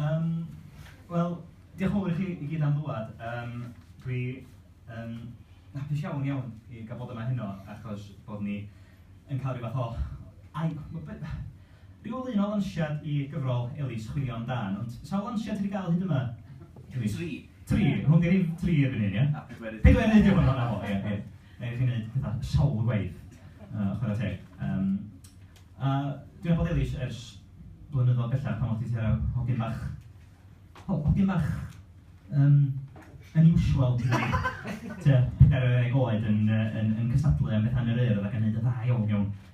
Yym, wel, diolch yn fawr i chi i gyd am ddŵad. Yym, dwi yn hapus iawn, iawn i gael bod yma heno, achos bod ni yn cael ryw fath o ai- b- b- ryw lun o lansiad i gyfrol Elis, Chwilio Am Dân. Ond sawl lansiad ti 'di gael hyd yma? Tri. Tri? Hwn 'di'r un tri erbyn hyn, ia? A pedwerydd. Pedwerydd, diolch yn fawr, 'na fo, ia, ia. Neu chi'n wneud petha sawl gwaith, yy chwarae teg. Yym a dwi ar Bodelish ers blynyddoedd bellach pan o'ch chdi tua hogyn bach, ho- hogyn bach yym unusual tua pedair ar ddeg oed yn yy yn yn cystadlu am betha yn yr Urdd ac yn wneud yn dda iawn iawn.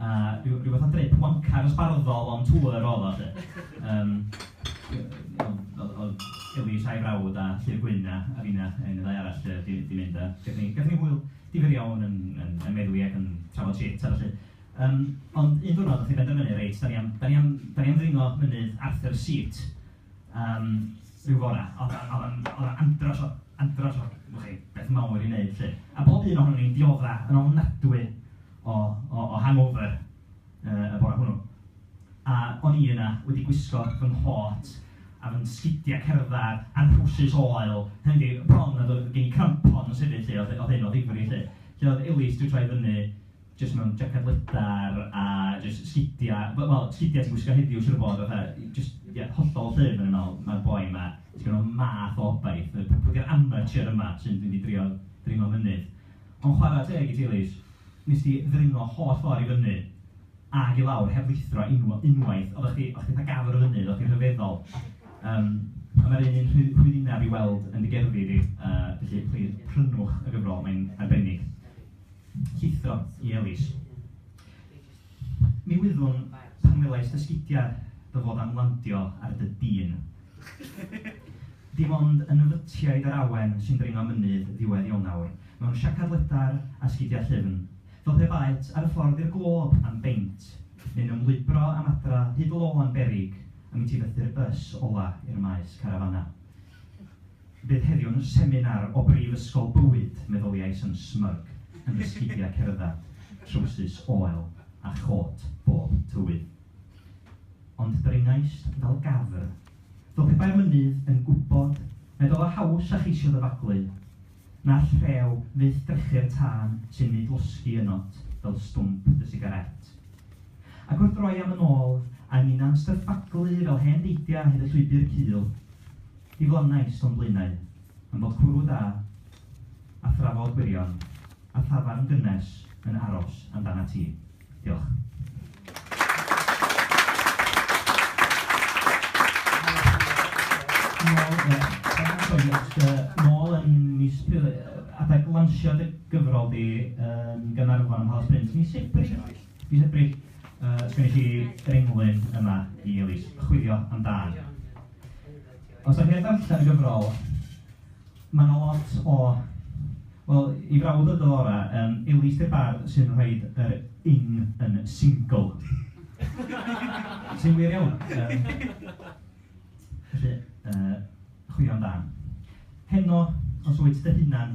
a ryw ryw fath o drip wanka dosbarthol on tour oedd o 'lly. Yym oedd oedd Ellis a'i frawd a Llyr Gwyn a a finna yy un neu ddau arall yy 'di 'di mynd a gaethon ni gaethon ni hwyl difyr iawn yn yn yn meddwi ac yn trafod shit a ballu. Yym ond un diwrnod wnaeth hi benderfynu reit dan ni am dan ni am dan ni am ddringo mynydd Arthur's Seat. Yym, rhyw fore, oedd 'na oedd 'na oedd 'na andros o andros o wch chi beth mawr i wneud 'lly. A bob un ohonon ni'n diodde' yn ofnadwy o o o hangover yy y bore hwnnw. A o'n i yna wedi gwisgo fy nghot a fy sgidia' cerdded a'n trowsus oel, hynny yw, bron nad oedd gen i crampons hefyd 'lly, oedd oedd hyn o ddifri 'lly. Felly oedd Elis 'di troi fyny jyst mewn jaced lydan a jyst sgidiau, wel wel sgidiau ti'n gwisgo heddiw siŵr o fod fatha jyst ie hollol llym o'n i'n meddwl, ma'r boi 'ma jyst mewn math o obaith, y papwr amatur yma sy'n mynd i drio dringo mynydd. Ond chwarae teg i ti Lis, wnes di ddringo holl ffordd i fyny ac i lawr heb lithro unw- unwaith, oeddach chdi oeddach chdi fatha gafr o fynydd, oeddach chdi'n rhyfeddol. Yym a mae'r un un rhy- rhywunaf i weld yn dy gerddi di, yy felly plis prynwch y gyfrol, mae'n arbennig. Llithro i Elis. Mi wyddwn, pan welais dy sgidiau, dy fod am landio ar dy dîn. Dim ond yn nyfytiaid yr awen sy'n dringo mynydd ddiwedd Ionawr, mewn siacad ledar a sgidiau llyfn, fel pe baet ar y ffordd i'r Glob am beint, neu'n ymlwybro am adra hyd lôn berig, a mi ti fythu'r bys ola i'r maes carafanau. Bydd heddiw yn seminar o Brifysgol Bywyd, meddyliais yn smug, yn fy sgidiau cerdded, trowsus oel a chôt bob tywydd. Ond dringaist fel gafr. Fel pe bai'r mynydd yn gwybod nad oedd o haws â cheisio ddyfaglu, na'r rhew fyth drechu'r tân sy'n neud losgi yno't fel stwmp dy sigarét. Ac wrth droi am yn ôl, a ninnau'n stryffaglu fel hen deidiau hyd y llwybr cul, Ni wnawnais o'm blaenau am fod cwrw da a thrafod gwirion a thafarn gynnes yn aros amdanat ti. Diolch. Nôl yn mis Pil, adeg lansio dy gyfrol di yn Gaernarfon ym Mhalas Bryn, mis Ebrill, mis Ebrill, sgynnes i ringlun yma i Elis, chwilio amdan. Os dach chi ar ddarllen y gyfrol, ma' 'na lot o... Wel, i frawd y Dora, yym, Elise de Barr sy'n rhoid yr ing yn single. Sy'n wir iawn. Yym, felly, yy, chwilio'n dda. Heno, os wyt dy hunan,